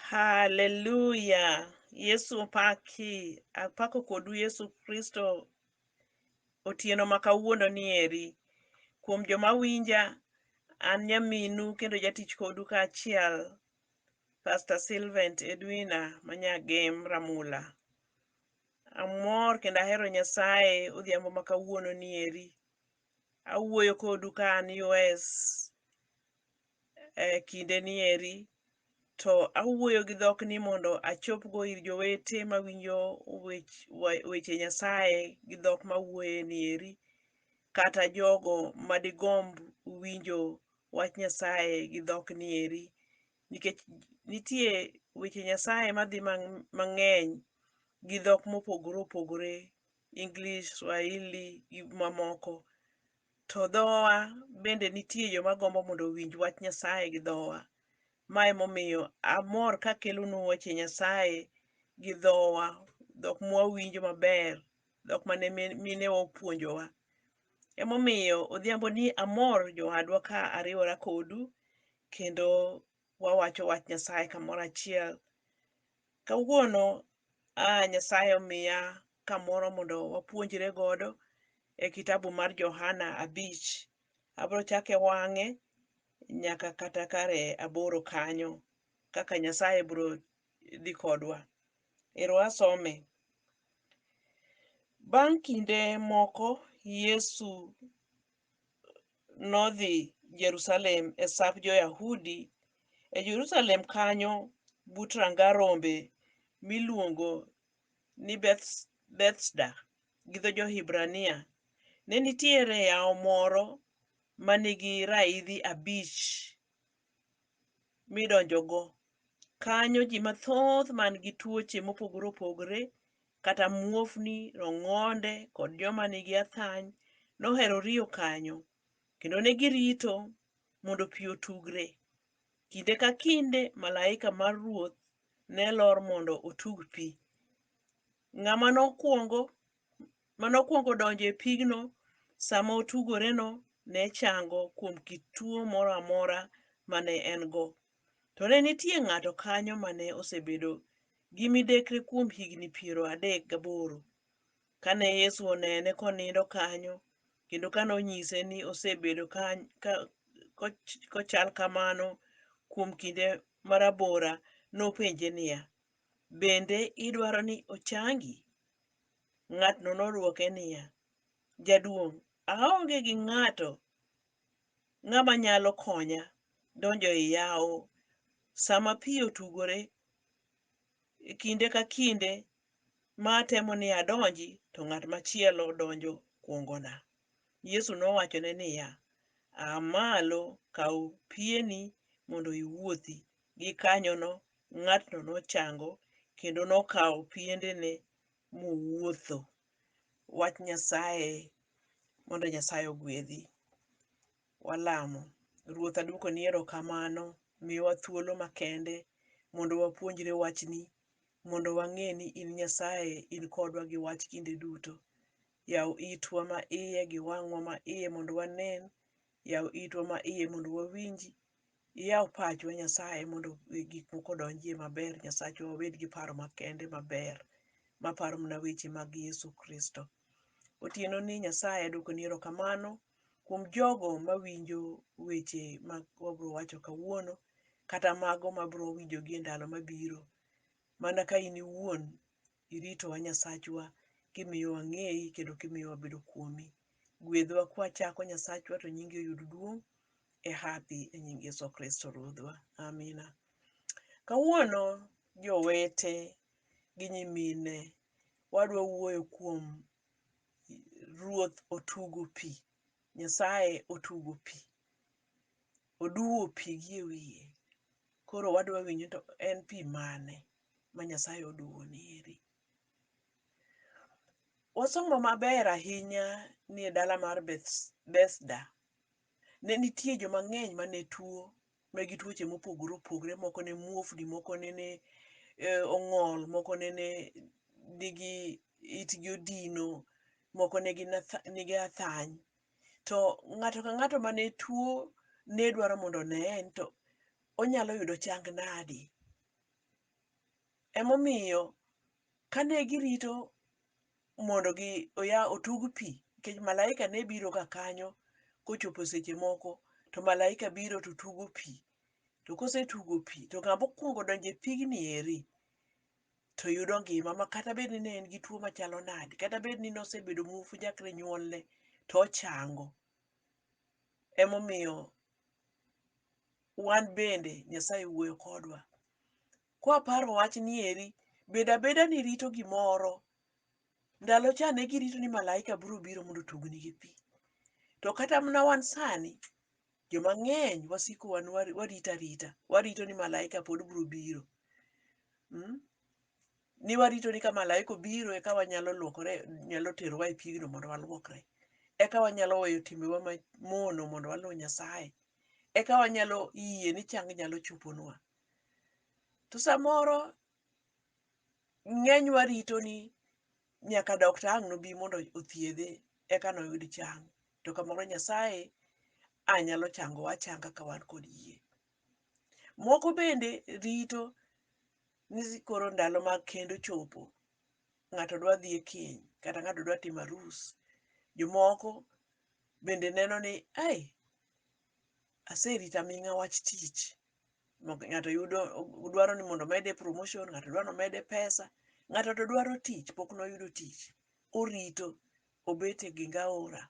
Haleluya. Yesu opaki. Apako kodu Yesu Kristo otieno ma kawuono ni eri. Kuom joma winja, an nyaminu kendo jatich kodu kaachiel, Pastor Silvent Edwina ma Nyagem Ramula. Amor kendo ahero Nyasaye odhiambo ma kawuono ni eri. Awuoyo kodu ka an US. e kindeni eri, to awuoyo gi dhok ni mondo achopgo ir jowete mawinjo wech wa- weche Nyasaye gi dhok mawuoye ni eri, kata jogo madigomb winjo wach Nyasaye gi dhok ni eri. Nikech nitie weche Nyasaye madhi mang- mang'eny gi dhok mopogore opogore, English, Swahili gi mamoko. To dhowa bende nitie joma gombo mondo owinj wach Nyasaye gi dhowa. Ma emomiyo amor kakelonu weche Nyasaye gi dhowa, dhok mwawinjo maber, dhok mane minewa opuonjowa. Emomiyo odhiamboni amor jowadwa ka ariwora kodu kendo wawacho wach Nyasaye kamoro achiel. Kawuono a Nyasaye omiya kamoro mondo wapuonjre godo e kitabu mar Johana abich. Abro chake wang'e nyaka kata kare aboro kanyo kaka Nyasaye bro dhi kodwa. Ero asome. Bang' kinde moko Yesu nodhi Jerusalem e sap jo-Yahudi. E Jerusalem kanyo but ranga rombe miluongo ni Beths- Bethsda gi dho jo-Hibrania, ne nitiere yawo moro ma nigi raidhi abich midonjogo. Kanyo ji mathoth man gi tuoche mopogore opogre kata muofni, rong'onde kod joma nigi athany nohero riyo kanyo kendo ne girito mondo pi otugre. Kinde ka kinde malaika mar Ruoth ne lor mondo otug pi. Ng'ama nokwongo mane okwongo donjo e pigno sama otugoreno ne chango kuom kit tuo moro amora ma ne en-go. To ne nitie ng'ato kanyo ma ne osebedo gi midekre kuom higni piero adek gaboro. Kane Yesu onene konindo kanyo, kendo kane onyise ni osebedo kany- ka- koch- kochal kamano kuom kinde marabora, nopenje niya, Bende idwaro ni ochangi? Ng'atno nodwoke niya, Jaduong', aonge gi ng'ato ng'ama nyalo konya donjo e yawo sama pi otugore e kinde ka kinde ma atemo ni adonji to ng'at machielo donjo kuongona. Yesu nowachone niya, A malo, kaw pieni mondo iwuothi. Gikanyono, ng'atno nochango kendo nokawo piendene mowuotho. Wach Nyasaye Mondo Nyasaye ogwedhi. Walamo. Ruoth, adwokoni erokamano. Miwa thuolo makende mondo wapuonjre Wachni, mondo wang'e ni in Nyasaye, in kodwa gi Wach kinde duto. Yaw itwa ma iye gi wang'wa ma iye mondo wanen, yaw itwa ma iye mondo wawinji, Iyaw pachwa Nyasaye mondo gik moko odonjie maber Nyasachwa wabed gi paro makende maber maparo mana weche mag Yesu Kristo. Otieno ni Nyasaye aduoko ni erokamano kuom jogo mawinjo weche ma wabro wacho kawuono kata mago mabro winjogi e ndalo mabiro mana ka in iwuon iritowa Nyasachwa kimiyo wang'eyi kendo kimiyo wabedo kuomi. Gwedhwa kwachako Nyasachwa to nyingi oyud duong' e hapi e nying Yesu Kristo Ruodhwa. Amina. Kawuono jowete gi nyimine wadwa wuoyo kuom Ruoth otugo pi. Nyasaye otugo pi. Oduwo pi gi e wiye. Koro wadwa winjo ni to en pi mane? ma Nyasaye oduwoni eri. Wasomo maber ahinya ni e dala mar Bethesda, ne nitie joma ng'eny ma ne tuo, ma gi tuoche mopogore opogore, moko ne muofni, moko nene ong'ol, moko nene nigi itgi odino, moko ne gin nigi athany. To ng'ato ka ng'ato mane tuo ne dwaro mondo oneye ni to onyalo yudo chang nadi. Emomiyo kane girito mondo gi oya otug pi, nikech malaika ne biro ga kanyo kochopo seche moko to malaika biro to tugo pi. To kosetugo pi to ng'ama okwongo donjo e pigni eri to yudo ngima ma kata bed ni ne en gi tuo machalo nade, kata bed ni nosebedo muofu chakre nyuolne to ochango. Emomiyo wan bende Nyasaye wuoyo kodwa. Kwaparo wachni eri, bedo abeda ni rito gimoro, ndalo cha ne girito ni malaika biro biro mondo otugni gi pi. To kata mana wan sani, joma ng'eny wasiko wan warito arita, warito ni malaika pod biro biro. Mm? ni warito ni ka malaika obiro eka wanyalo luokore nyalo terowa e pigno mondo waluokre eka wanyalo weyo timbewa mamono mondo waluw nyasaye eka wanyalo yie ni chang nyalo choponwa to samoro ng'eny warito ni nyaka dokta ang' nobi mondo othiedhe eka noyud chang to kamoro nyasaye a nyalo changowa achanga ka wan kod yie Moko bende rito ni koro ndalo mag kend ochopo, ng'ato dwa dhi e keny kata ng'ato dwa timo arus. Jomoko bende neno ni ai, aserito aming'a wach tich, ng'ato yudo dwaro ni mondo omede promotion, ng'ato dwa ni omede pesa, ng'ato to dwaro tich pok noyudo tich, orito obet e geng aora.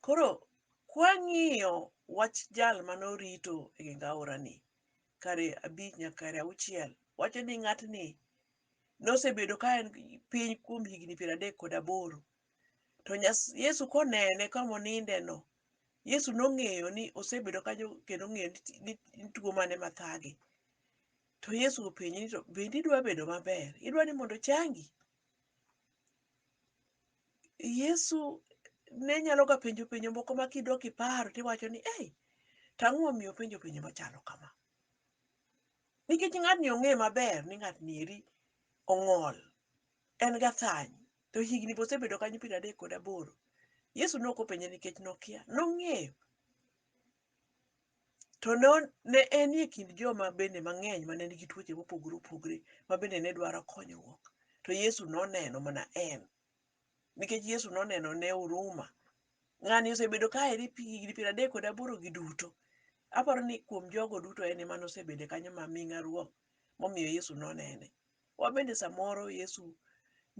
Koro kwang'iyo wach jal mane orito e geng aorani kare abich nyaka kare auchiel, wacho ni ng'atni nosebedo ka en piny kuom higni piero adek kod aboro. To Yesu konene kama onindeno, Yesu nong'eyo ni osebedo kanyo kendo ong'eyo ni en tuo mane mathage. To Yesu openje ni to bende idwa bedo maber? Idwa ni mondo ochangi? Yesu ne nyalo ga penjo penjo moko ma kidok iparo tiwacho ni ei, to ang'o momiyo openjo penjo machalo kama? Nikech ng'atni ong'e maber ni ng'atni eri ong'ol, en gathany, to higni be osebedo kanyo piero adek kod aboro. Yesu ne ok openje nikech nokia, nong'eyo. To ne ne enie kind joma bende mang'eny mane nigi tuoche mopogore opogore ma bende ne dwaro konyruok. To Yesu noneno mana en. Nikech Yesu noneno ne huruma. Ng'ani osebedo ka eri pi higni piero adek kod aboro gi duto. Aparo ni kuom jogo duto en ema nosebede kanyo ma ming'a ruom momiyo Yesu nonene. Wabende samoro Yesu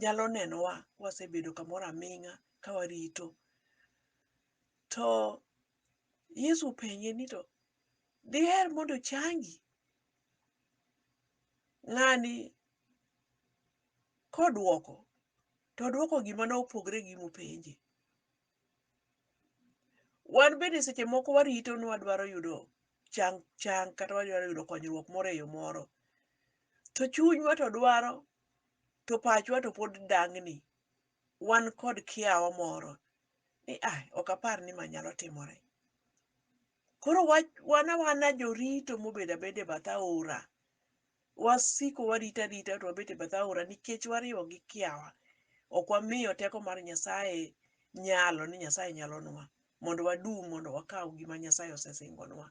nyalo nenowa kwasebedo kamoro aming'a ka warito. To Yesu openje ni to diher mondo ochangi? Ng'ani kodwoko to odwoko gima ne opogre gi mopenje. Wan bende seche moko warito ni wadwaro yudo chang chang kata wadwaro yudo konyruok moro e yo moro. To chunywa to dwaro to pachwa to pod dang'ni. Wan kod kiawa moro ni ai, ok apar ni ma nyalo timore. Koro wa, wan awana jorito mobedo abeda e bath aora, wasiko warito arita to wabet e bath aora nikech wariwo gi kiawa. Ok wamiyo teko mar Nyasaye nyalo ni Nyasaye nyalonwa mondo wadum, mondo wakaw gima Nyasaye osesingonwa.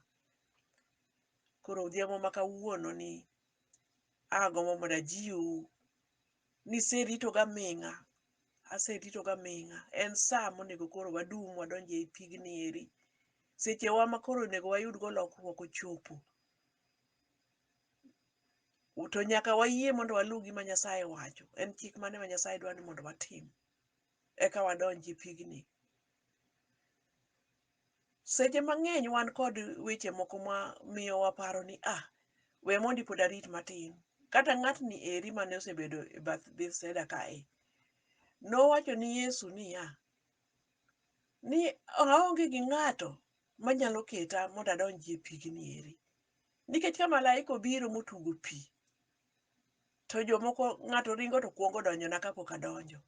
Koro odhiambo ma kawuononi, Agombo mondo ajiwu ni serito ga ming'a, aserito ga ming'a. En sa monego koro wadum wadonj ei pigni eri. Seche wa ma koro onego wayud go lokruok ochopo. To nyaka wayie mondo waluw gima Nyasaye wacho. En chik mane ma Nyasaye dwa ni mondo watim? Eka wadonj e pigni. Seche mang'eny wan kod weche moko ma miyo waparo ni ah, we mondi pod arit matin. Kata ng'atni eri mane osebedo e bath Bethsaida kae, nowacho ni Yesu niya, ni aonge gi ng'ato manyalo keta mondo adonjie pigni eri. Nikech ka malaika obiro motugo pi, to jomoko ng'ato ringo to kwongo donjona kapok adonjo.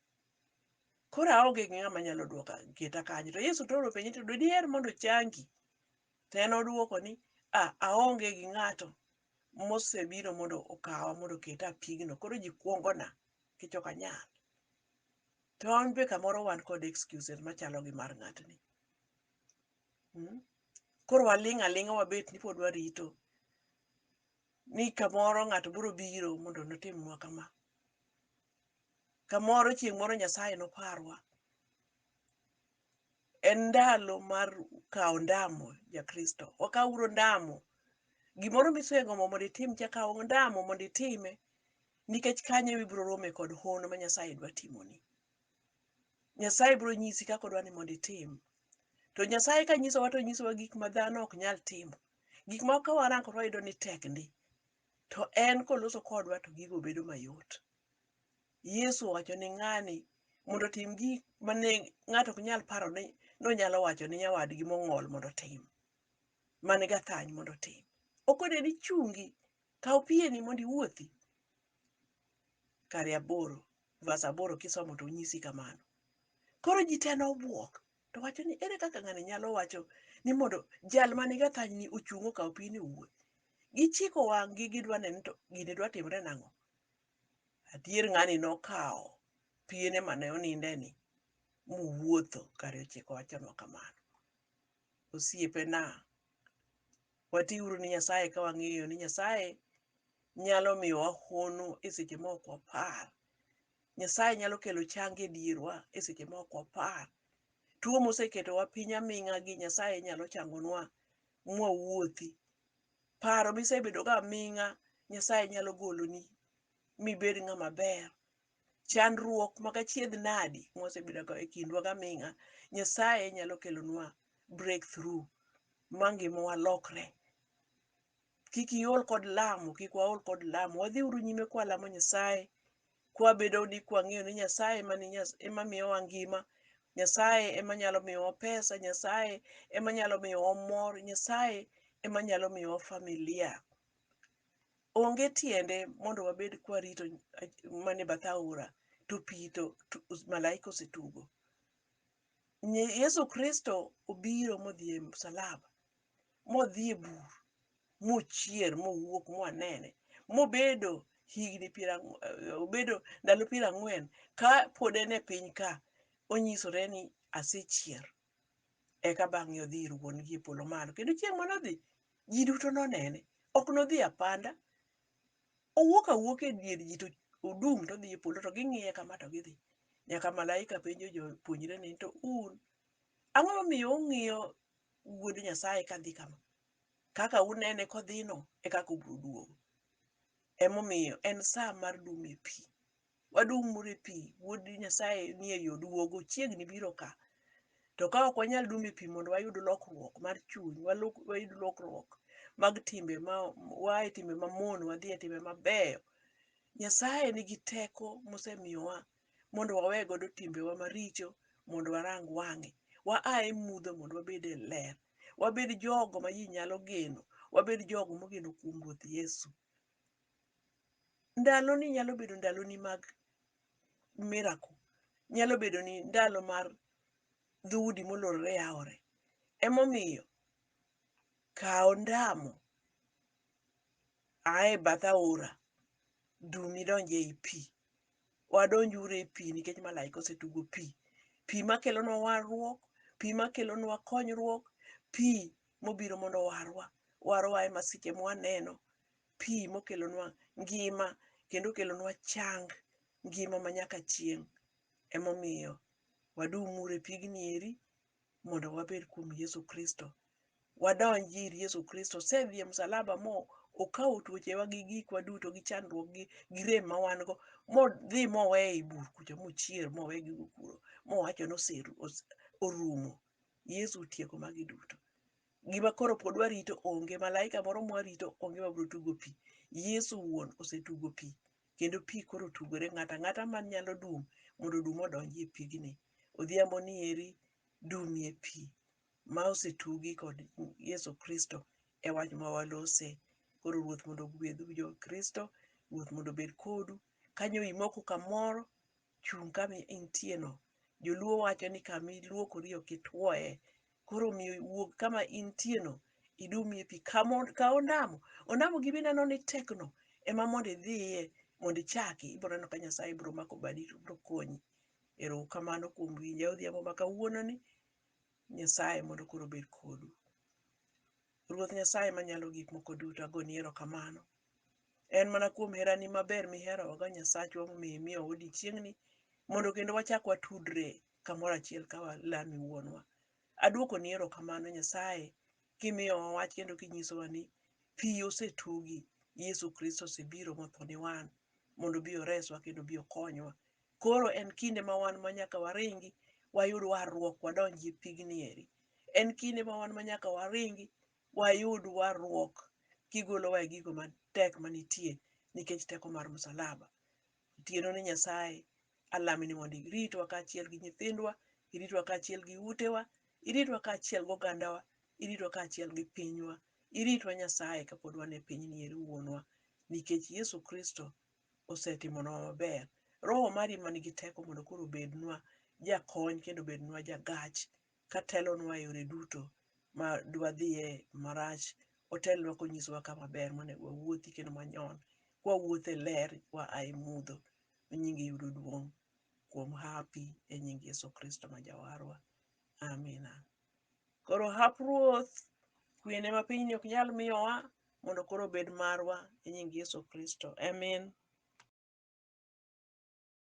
Koro aonge gi ng'ama nyalo duoka keta kanyo. To Yesu toro penje to diher mondo ochangi? To en odwoko ni a aonge gi ng'ato mosebiro mondo okawa mondo oketa e pigno. Koro ji kuongona nikech ok anyal. To wan be kamoro wan kod excuses machalo gi mar ng'atni. Mm? Koro waling' aling'a wabet ni pod warito ni kamoro ng'ato biro biro mondo notimnwa kama. kamoro chieng' moro Nyasaye noparwa. En ndalo mar kawo ondamo ja Kristo. Wakaw uru ondamo. Gimoro misegombo mondo itim cha kaw ondamo mondo itime nikech kanyo ema ibiro rome kod hono ma Nyasaye dwa timoni. Nyasaye biro nyisi kaka odwa ni mondo itim. To Nyasaye ka nyisowa to onyisowa gik ma dhano ok nyal timo. Gik ma ka warango to wayudo ni tek ndi. To en koloso kodwa to gigo bedo mayot. Yesu owacho ni ng'ani mondo otim gik mane ng'ato ok nyal paro ni nonyalo wacho ni nyawadgi mong'ol mondo otim, man gathany mondo otim. Okone ni chungi, kaw pieni mondo iwuothi. Kare aboro, verse aboro kisomo to onyisi kamano. Koro ji te nobwok, To wacho ni ere kaka ng'ani nyalo wacho ni mondo jal ma niga thanyni ochung' okaw pini owuo. Gichiko wang'gi gidwa neno ni to gini dwa timre nang'o. Adier ng'ani nokawo piene mane onindeni mowuotho kare ochiko wachonwa kamano. Osiepena, watiuru ni Nyasaye ka wang'eyo ni Nyasaye nyalo miyowa hono e seche ma ok wapar. Nyasaye nyalo kelo chang e dierwa e seche ma ok wapar. Tuo moseketowa piny aming'a gi Nyasaye nyalo changonwa mwawuothi. Paro misebedo go aming'a Nyasaye nyalo goloni mibed ng'ama ber. Chandruok mag achiedh nadi mwasebedo go e kindwa go aming'a Nyasaye nyalo kelonwa breakthrough ma ngimawa lokre. kik iol kod lamo kik waol kod lamo wadhi uru nyime kwa lamo nyasaye kwa bedo ni kwa ng'eyo ni nyasaye ema ni nyas, ema miyowa ngima nyasaye ema nyalo miyowa pesa nyasaye ema nyalo miyowa mor nyasaye ema nyalo miyowa familia onge tiende mondo wabed kwa rito mane bath aora to pito malaika osetugo Yesu Kristo obiro modhi e msalaba modhi e bur mochier mowuok mwanene mobedo higni piero ang'wen eh, obedo ndalo piero ang'wen ka pod en e piny ka onyisore ni asechier eka bang'e odhi ir wuon gi e polo malo kendo chieng' manodhi ji duto nonene ok nodhi apanda owuok awuok e dier ji to odum to odhi e polo to ging'iye kama to gidhi nyaka malaika penjo jopuonjre ni to un ang'o momiyo ung'iyo Wuod Nyasaye ka dhi kama. Kaka unene kodhino e kaka obiro duogo. Emomiyo en sa mar dumo e pi. Wadumuru e pi, Wuod Nyasaye ni e yo duogo, ochiegni biro ka. To ka ok wanyal dumo e pi mondo wayud lokruok mar chuny, wayud lokruok mag timbe ma waa e timbe mamono wadhi e timbe mabeyo, Nyasaye nigi teko mosemiyowa mondo wawe godo timbewa maricho mondo warang wang'e. Wa a e mudho mondo wabed e ler. Wabed jogo ma ji nyalo geno. Wabed jogo mogeno kuom Ruoth Yesu. Ndaloni nyalo bedo ndaloni mag miracle. Nyalo bedo ni ndalo mar dhoudi molorore yawore. Emomiyo kaw ndamo a e bath aora dum idonj ei pi. wadonj uru e pi nikech malaika osetugo pi. Pi makelonwa warruok, pi makelonwa konyruok, pi mobiro mondo owarwa, warwa e masiche mwaneno, pi mokelonwa ngima kendo okelonwa chang, ngima ma nyaka chieng'. Emomiyo wadum uru e pigni eri mondo wabed kuom Yesu Kristo. Wadonj ir Yesu Kristo. Osedhi e msalaba mo okawo tuochewa gi gikwa duto gi chandruok gi, gi rem ma wan go modhi mowe ei bur kucho mochier mowe gigo kuro mowacho ni oseru, ose, orumo. Yesu otieko magi duto. Gima koro pod warito onge, malaika moro mwarito onge mabiro tugo pi. Yesu wuon osetugo pi kendo pi koro otugore. Ng'ato ang'ata man nyalo dum mondo odum odonjie pigni. Odhiambo ni eri dumie pi ma osetugi kod Yesu Kristo e wach ma walose. Koro Ruoth mondo ogwedhu jo Kristo, Ruoth mondo obed kodu. Kanyo imoko kamoro chung' kama intieno. Joluo wacho ni kama iluokori ok ituoye. Koro omiyo wuog kama intieno idum e pi. Kaw ondamo, ondamo gi mineno ni tekno ema mondo idhiye mondo ichaki. Ibiro neno ka Nyasaye biro mako badi to obiro konyi. Ero uru kamano kuom winja odhiambo ma kawuononi. Nyasaye mondo koro obed kodu. Ruoth Nyasaye Manyalo Gik Moko Duto, agoni erokamano. En mana kuom herani maber miherowago Nyasachwa momiyo imiyowa odiechieng'ni mondo kendo wachak watudre kamoro achiel ka walami Wuonwa. Aduokoni erokamano Nyasaye kimiyowa wach kendo kinyisowa ni pi osetugi, Yesu Kristo osebiro motho ni wan mondo obi oreswa kendo obi okonywa Koro en kinde ma wan ma nyaka waringi wayud warruok wadonji e pigni eri. En kinde ma wan ma nyaka waringi wayud warruok kigolowa e gigo matek manitie nikech teko mar msalaba. Otieno ni Nyasaye alami ni mondo iritwa kaachiel gi nyithindwa, iritwa kaachiel gi utewa, iritwa kaachiel gogandawa, iritwa kaachiel gi pinywa. Iritwa Nyasaye kapod wan e pinyni eri wuonwa nikech Yesu Kristo osetimonwa maber. Roho mari ema nigi teko mondo koro obednwa jakony kendo obednwa jagach katelonwa e yore duto ma dwadhiye marach. Otelnwa konyisowa kama ber monego wawuothi kendo manyon kwawuotho e ler kwa a e mudho mi nyingi yudo duong' kuom hapi e nying Yesu Kristo ma Jawarwa. Amina. Koro hap Ruoth kwene ma pinyni ok nyal miyowa mondo koro obed marwa e nying Yesu Kristo. Amin.